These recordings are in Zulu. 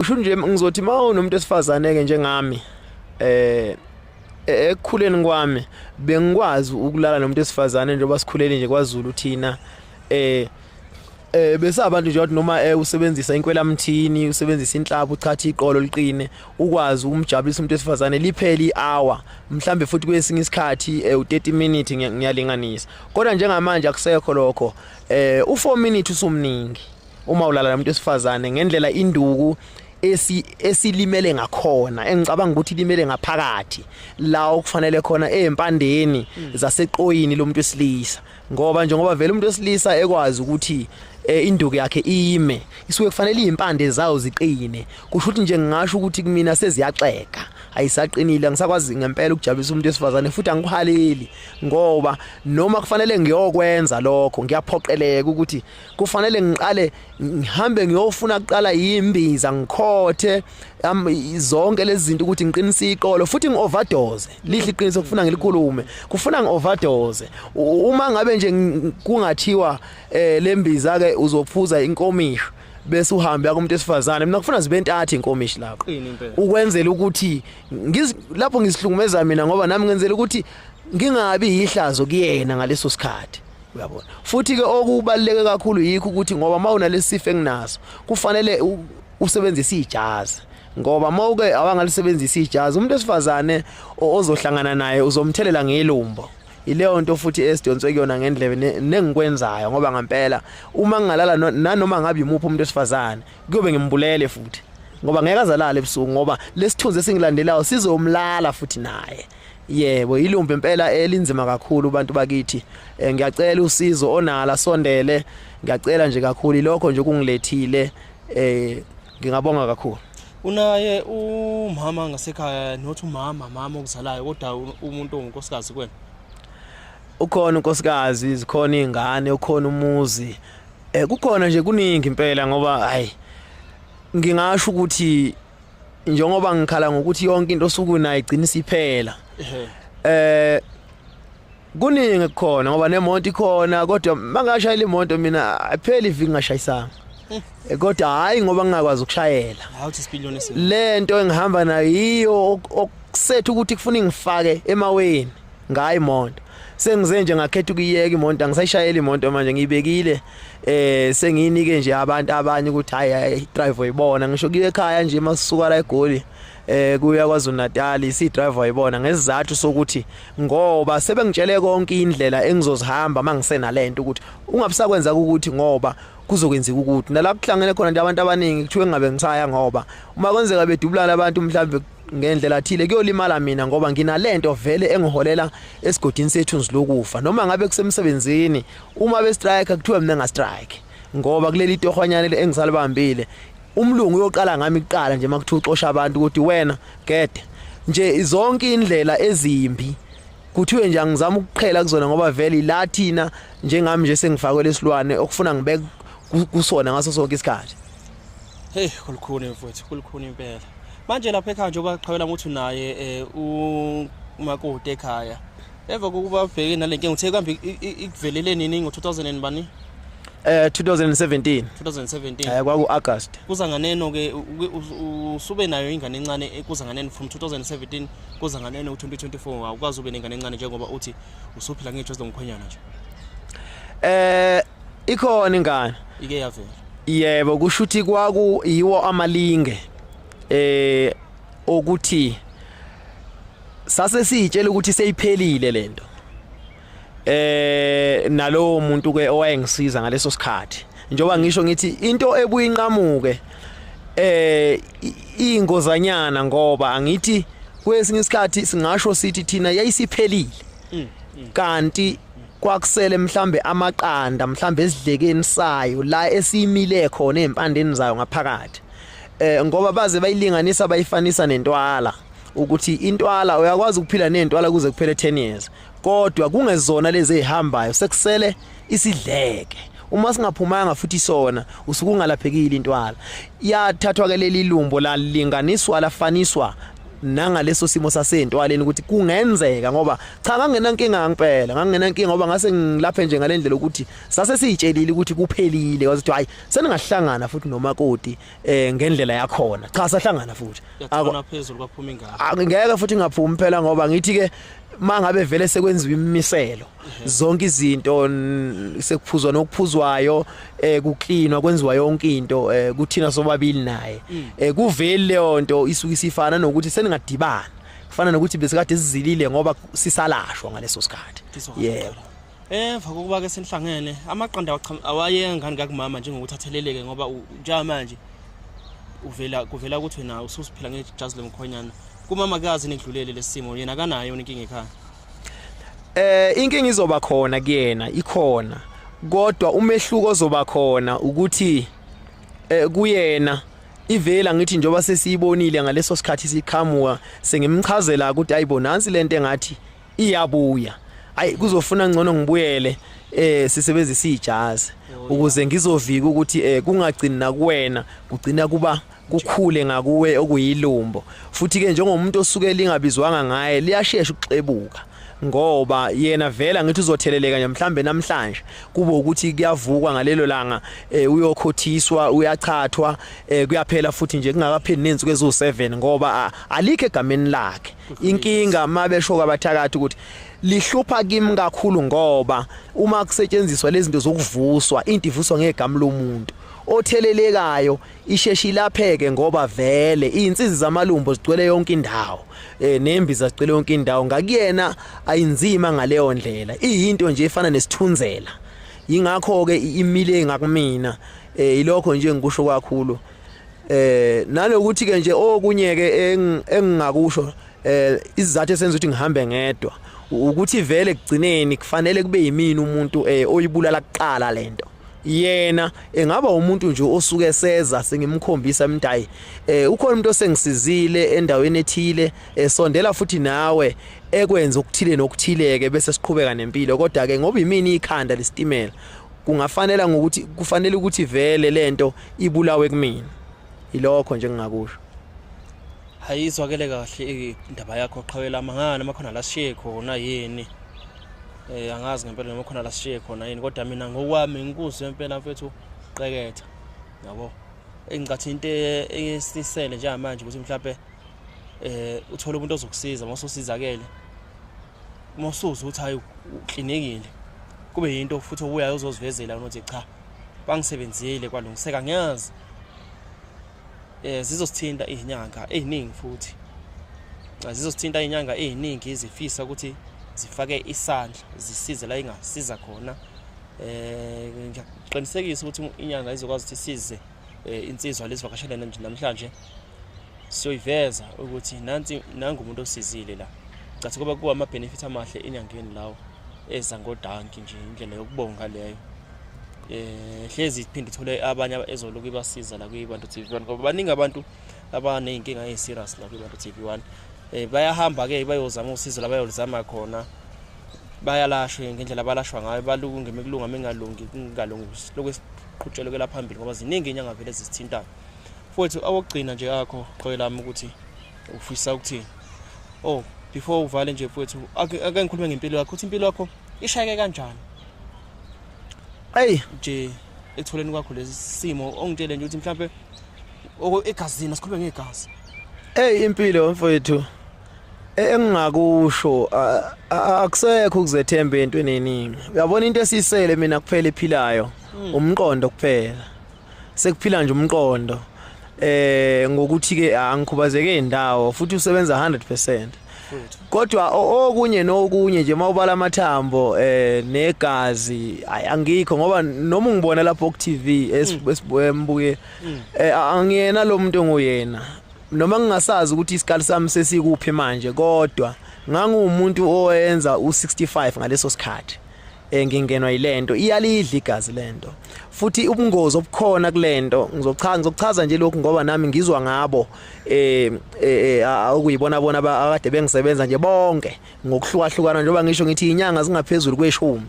usho nje ngizothi uma unomuntu esifazane ke njengami eh e-, ekukhuleni kwami bengikwazi ukulala nomuntu esifazane njengoba sikhulele nje kwaZulu thina eh eh bese abantu nje noma eh, usebenzisa inkwelamthini usebenzisa inhlaba uchatha iqolo liqine ukwazi ukumjabulisa umuntu esifazane liphele ihour mhlambe futhi kwesinye isikhathi eh, u30 minutes ngiyalinganisa kodwa njengamanje akusekho lokho eh u4 minutes usumningi uma ulala nomuntu wesifazane ngendlela induku esi esilimele ngakhona engicabanga ukuthi limele ngaphakathi la okufanele khona ezimpandeni mm. zaseqoyini lomuntu wesilisa ngoba njengoba vele umuntu wesilisa ekwazi ukuthi eh, induku yakhe ime isuke kufanele izimpande zawo ziqine kusho ukuthi nje ngingasho ukuthi kumina seziyaxeka ayisaqinile angisakwazi ngempela ukujabulisa umuntu wesifazane futhi angikuhaleli ngoba noma kufanele ngiyokwenza lokho ngiyaphoqeleka ukuthi kufanele ngiqale ngihambe ngiyofuna kuqala imbiza ngikhothe zonke lezi zinto ukuthi ngiqinise iqolo futhi ngi-overdose lihle iqiniso kufuna ngilikhulume kufuna ngi-overdose uma ngabe nje kungathiwa um eh, le mbiza-ke uzophuza inkomisho bese uhambe akumuntu esifazane mina kufuna zibe ntathu inkomishi lapho ukwenzela ukuthi lapho ngizihlukumeza mina ngoba nami ngenzela ukuthi ngingabi yihlazo kuyena ngaleso sikhathi uyabona futhi ke okubaluleke kakhulu yikho ukuthi ngoba mawunalesifo enginaso kufanele usebenzise ijazi ngoba mawuke awangalisebenzisa ijazi umuntu esifazane ozohlangana naye uzomthelela ngelumbo ileyo nto futhi esidonswe kuyona ngendlebe nengikwenzayo ngoba ngampela uma ngingalala nanoma ngabe yimuphi umuntu esifazane kuyobe ngimbulele futhi ngoba ngeke azalale ebusuku ngoba lesithunzi esingilandelayo sizomlala futhi naye Yebo ilumbe impela elinzima kakhulu abantu bakithi eh, ngiyacela usizo onala sondele ngiyacela nje kakhulu lokho nje kungilethile eh ngingabonga kakhulu unaye umama ngasekhaya not umama mama okuzalayo kodwa umuntu ongunkosikazi kwena ukhona unkosikazi zikhona izingane ukhona umuzi eh kukhona nje kuningi impela ngoba hayi ngingasho ukuthi njengoba ngikhala ngokuthi yonke into osuku nayo igcina isiphela eh kuningi kukhona ngoba nemonto ikhona kodwa mangashayela imoto mina apheli iviki ngashayisanga eh, kodwa hayi ngoba ngingakwazi ukushayela lento engihamba nayo yiyo okusetha ukuthi kufuna ngifake emaweni ngayo imoto sengize nje ngakhetha ukuyeka imoto angisayishayeli imoto manje ngiyibekile eh sengiyinike nje abantu abanye ukuthi hayi drive uyibona ngisho kuye ekhaya nje masuka la egoli eh kuya kwaZulu Natal isi driver yibona ngesizathu sokuthi ngoba sebengitshele konke indlela engizozihamba mangisena lento ukuthi ungabusakwenza ukuthi ngoba kuzokwenzeka ukuthi nalapho kuhlangene khona nje abantu abaningi kuthiwe ngabe ngisaya ngoba uma kwenzeka bedubulana abantu mhlawumbe ngendlela thile kuyolimala mina ngoba nginalento vele engiholela esigodini sethu nzilokufa noma ngabe kusemsebenzini uma be strike kuthiwa mina nga strike ngoba kuleli tohwanyane engisalibambile umlungu uyoqala ngami kuqala nje makuthiwa uxosha abantu ukuthi wena gede nje zonke indlela ezimbi kuthiwe nje angizama ukuqhela kuzona ngoba vele la thina njengami nje sengifakwe lesilwane okufuna ngibeke kusona ngaso sonke isikhathi hey kulukhuni mfowethu kulukhuni impela manje lapha ekhaya njengoba qhawela ukuthi unaye um umakoti ekhaya emva kokuba ubheke nale nkinga uthe kambe ikuvelele nini ngo-2000 and bani eh 2017 2017 eh kwaku August kuza nganeno ke usube nayo ingane encane eh, kuza nganeno from 2017 kuza nganeno u2024 awukazi ube nengane encane njengoba uthi usuphila ngejo zomkhwenyana nje eh ikhona ingane ike yavela yebo kusho ukuthi kwaku yiwo amalinge eh okuthi sase sitshela ukuthi seyiphelile lento eh nalowo muntu ke owayengisiza ngaleso sikhathi njoba ngisho ngithi into ebuyinqamuke eh ingozanyana ngoba angithi kwesinye isikhathi singasho sithi thina yayisiphelile mm, mm. kanti kwakusele mhlambe amaqanda mhlambe esidlekeni sayo la esiyimile khona ezimpandeni zayo ngaphakathi eh ngoba baze bayilinganisa bayifanisa nentwala ukuthi intwala uyakwazi ukuphila nentwala kuze kuphele 10 years kodwa kungezona lezi ezihambayo sekusele isidleke uma singaphumanga futhi sona usukungalaphekile intwala yathathwa ke leli lumbo lalinganiswa lafaniswa nangaleso simo sasentwaleni ukuthi kungenzeka ngoba cha ngangenankinga ngempela ngangenankinga ngoba ngase ngilaphe nje ngalendlela ukuthi sase siyitshelile ukuthi kuphelile wazi ukuthi hayi seningahlangana futhi nomakoti eh ngendlela yakhona cha sahlangana futhi akona phezulu kwaphuma ingane ngeke futhi ngaphumi phela ngoba ngithi ke mangabe vele sekwenziwa imimiselo zonke izinto sekuphuzwa nokuphuzwayo eh kuklinwa kwenziwa yonke into eh kuthina sobabili naye mm. eh kuveli leyo nto isuke isifana nokuthi seningadibana kufana nokuthi besikade sizilile ngoba sisalashwa ngaleso sikhathi yebo Emva eh, kokuba ke senihlangene amaqanda awayengani kakumama njengokuthi atheleleke ngoba njenga manje uvela kuvela ukuthi wena ususiphila ngejazi lomkhonyana kumama kazi nekudlulele lesimo yena kanayo inkinga ekhaya Eh inkinga izoba khona kuyena ikhona kodwa umehluko ozoba khona ukuthi eh kuyena ivela ngithi njoba sesiyibonile ngaleso sikhathi siqhamuka sengimchazela ukuthi ayibo nansi lento engathi iyabuya ayi kuzofuna ngcono ngibuyele eh sisebenzisa ijazi ukuze ngizovika ukuthi eh kungagcini nakuwena kugcina kuba kukhule ngakuwe okuyilumbo futhi ke njengomuntu osuke lingabizwanga ngaye liyashesha ukuxebuka ngoba yena vela ngithi uzotheleleka nje mhlambe namhlanje kube ukuthi kuyavukwa ngalelo langa eh, uyokhothiswa uyachathwa eh, kuyaphela futhi nje kungakapheli nensuku ezu7 ngoba alikho egameni lakhe inkinga mabesho kwabathakathi ukuthi lihlupha kimi kakhulu ngoba uma kusetshenziswa lezi zinto zokuvuswa into ivuswa ngegama lomuntu othelelekayo isheshe ilapheke ngoba vele izinsizi zamalumbo zigcwele yonke indawo eh nembi zazigcwele yonke indawo ngakuyena ayinzima ngaleyo ndlela iyinto nje efana nesithunzela yingakho ke imile ngakumina eh ilokho nje ngikusho kakhulu eh nalokuthi ke nje okunye ke engingakusho eh izizathu esenza ukuthi ngihambe ngedwa ukuthi vele kugcineni kufanele kube yimini umuntu eh oyibulala kuqala lento yena engaba umuntu nje osuke seza sengimkhombisa mntayi eh ukhona umuntu osengisizile endaweni ethile esondela eh, futhi nawe ekwenza okuthile nokuthileke bese siqhubeka nempilo kodwa ke ngoba imini ikhanda lesitimela kungafanela ngokuthi kufanele ukuthi vele lento ibulawe kumina ilokho nje ngingakusho hayizwakele kahle indaba yakho qhawela mangana makhona la siye khona yini Eh angazi ngempela noma khona la sishiye khona yini kodwa mina ngokwami ngikuzwe impela mfethu qeketha. Yabo. Engicathi into e-, esisele njengamanje ukuthi mhlawumbe eh uthole umuntu ozokusiza uma usizakele. Uma usuza ukuthi hayi uklinikile. Kube yinto futhi obuyayo uzozivezela ukuthi cha bangisebenzile kwalungiseka ngiyazi eh zizosithinta izinyanga eziningi futhi zizosithinta izinyanga eziningi izifisa ukuthi zifake isandla zisize la ingasiza khona eh ngiyakuqinisekisa ukuthi inyanga izokwazi ukuthi isize eh, insizwa lezivakashele namhlanje siyoyiveza ukuthi nansi nangu umuntu osizile la cathi kuba kuwa ama benefit amahle enyangeni lawo eza ngodanki nje indlela yokubonga leyo eh hlezi iphinde ithole abanye ezoloku ibasiza la kwibantu TV1 ngoba baningi abantu abanezinkinga eziserious la kwibantu TV1 eh bayahamba ke bayozama usizo labayolizama khona bayalashwe ngendlela balashwa ngayo balunge mekulunga mengalungi kungalungi lokwesiqhutshelo ke laphambili ngoba ziningi inyanga vele zisithintayo futhi awokugcina nje akho qhoyi lami ukuthi ufisa ukuthi oh before uvale nje futhi ake ngikhulume ngempilo yakho ukuthi impilo yakho ishayeke kanjani Hey nje ekutholeni kwakho lesi simo ongitshele nje ukuthi mhlawumbe egazini sikhuluma ngegazi. Hey impilo mfowethu e, engingakusho akusekho ukuzethemba entweni eningi. Uyabona into esisele mina kuphela ephilayo hmm. umqondo kuphela. sekuphila nje umqondo eh ngokuthi ke angikhubazeke indawo futhi usebenza 100% kodwa okunye nokunye nje mawubala amathambo eh negazi angikho ngoba noma ungibona lapho ku TV esibuye mm. mm. eh, angiyena lo muntu nguyena noma ngingasazi ukuthi isikali sami sesikuphi manje kodwa ngangumuntu owenza u65 ngaleso sikhathi eh ngingenwa yilento iyalidla igazi lento futhi ubungozi obukhona kulento ngizochaza ngizochaza nje lokhu ngoba nami ngizwa ngabo eh, eh, eh awukuyibona bona akade bengisebenza nje bonke ngokuhlukahlukana njengoba ngisho ngithi inyanga zingaphezulu kweshumi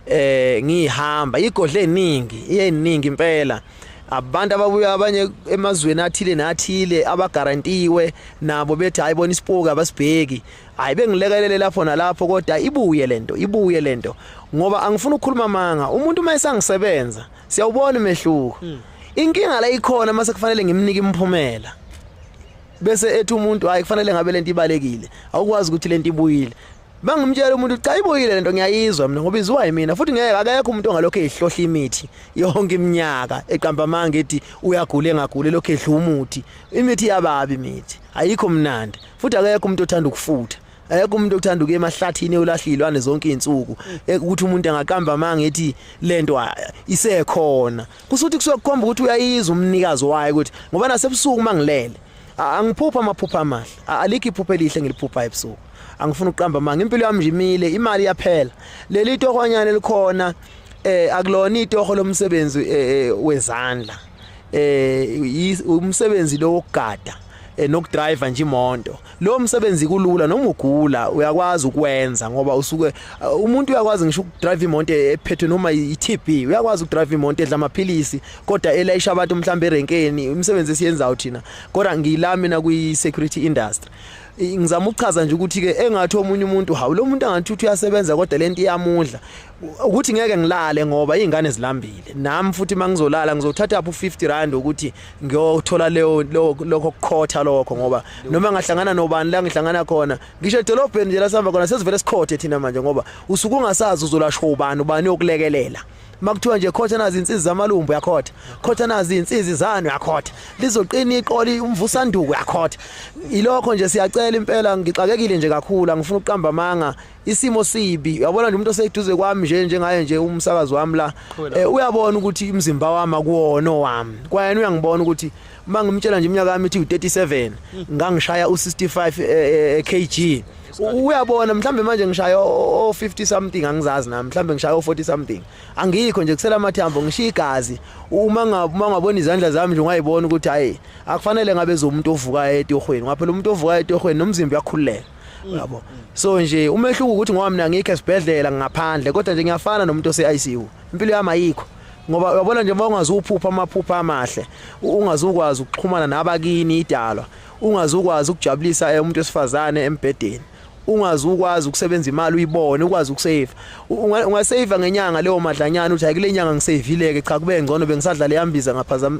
eh ngihamba igodle eningi iyeningi impela abantu ababuya abanye emazweni athile nathile abagarantiwe nabo bethi hayi bona isipoki abasibheki hayi bengilekelele lapho nalapho kodwa ibuye lento ibuye lento ngoba angifuni ukukhuluma manga umuntu uma esangisebenza siyawubona umehluko hmm. inkinga la ikhona mase kufanele ngimnike imphumela bese ethi umuntu hayi kufanele ngabe lento ibalekile awukwazi ukuthi lento ibuyile bangimtshela umuntu cha ibuyile lento ngiyayizwa mina ngoba iziwa yimina futhi ngeke akekho umuntu ongalokho ehlohla imithi yonke iminyaka eqamba amanga ethi uyagula engagule lokho edla umuthi imithi yababi imithi ayikho mnandi futhi akekho umuntu othanda ukufutha ayekho umuntu okuthanda ukuya emahlathini eyolahlilwane zonke izinsuku e, ukuthi umuntu angaqamba amanga ethi lento isekhona kusuthi kusokukhomba ukuthi uyayizwa umnikazi wayo ukuthi ngoba nasebusuku mangilele angiphupha amaphupha amahle alikho iphupha elihle ngiliphupha ebusuku angifuni ukuqamba amanga impilo yami nje imile imali iyaphela leli tohonyana elikhona eh akulona itoho lomsebenzi eh, eh, wezandla eh umsebenzi lo wokugada eh, nokudriver nje imoto lo msebenzi kulula noma ugula uyakwazi ukwenza ngoba usuke eh, umuntu uyakwazi ngisho ukudrive imoto ephethwe noma iTB uyakwazi ukudrive imoto edla amaphilisi kodwa elayisha abantu mhlawumbe erenkeni umsebenzi esiyenzayo thina kodwa ngiyila mina kwi security industry ngizama ukuchaza nje ukuthi ke engathi omunye umuntu hawu lo muntu angathi uthi uyasebenza kodwa lento iyamudla ukuthi ngeke ngilale ngoba izingane zilambile nami futhi mangizolala ngizothatha apho 50 rand ukuthi ngiyothola leyo lokho kukhotha lokho ngoba noma ngahlangana nobani la ngihlangana khona ngisho edolobheni nje lasihamba khona sesivele sikhothe thina manje ngoba usuku ungasazi uzolashwa ubani ubani yokulekelela makuthiwa nje khotha nazi insizi zamalumbu yakhotha khotha nazi insizi zanu yakhotha lizoqina iqoli umvusanduku yakhotha ilokho nje siyacela impela ngixakekile nje kakhulu angifuni ukuqamba amanga isimo sibi yabona nje umuntu oseduze kwami nje njengaye nje umsakazi wami la eh, uyabona ukuthi umzimba wami akuwona owami kwayena uyangibona ukuthi uma ngimtshela nje iminyaka yami ithi u37 hmm. ngangishaya u65 eh, eh, kg uyabona mhlambe manje ngishaya o 50 something angizazi nami mhlambe ngishaya o 40 something angikho nje kusela amathambo ngishiya igazi uma ngabuma ngabona izandla zami nje ungayibona ukuthi hayi akufanele ngabe zomuntu ovuka etohweni ngaphela umuntu ovuka etohweni nomzimba uyakhululeka yabo so nje umehluko ukuthi ngoba mina ngikho esibhedlela ngaphandle kodwa nje ngiyafana nomuntu ose ICU impilo yami ayikho ngoba uyabona nje uma ungazuphupha amaphupha amahle ungazukwazi ukuxhumana nabakini idalwa ungazukwazi ukujabulisa eh, umuntu wesifazane embhedeni ungazi ukwazi ukusebenza imali uyibone ukwazi ukusave ungasave ngenyanga leyo madlanyana uthi ayikule nyanga ngisavileke cha kube ngcono bengisadlala yambiza ngaphazama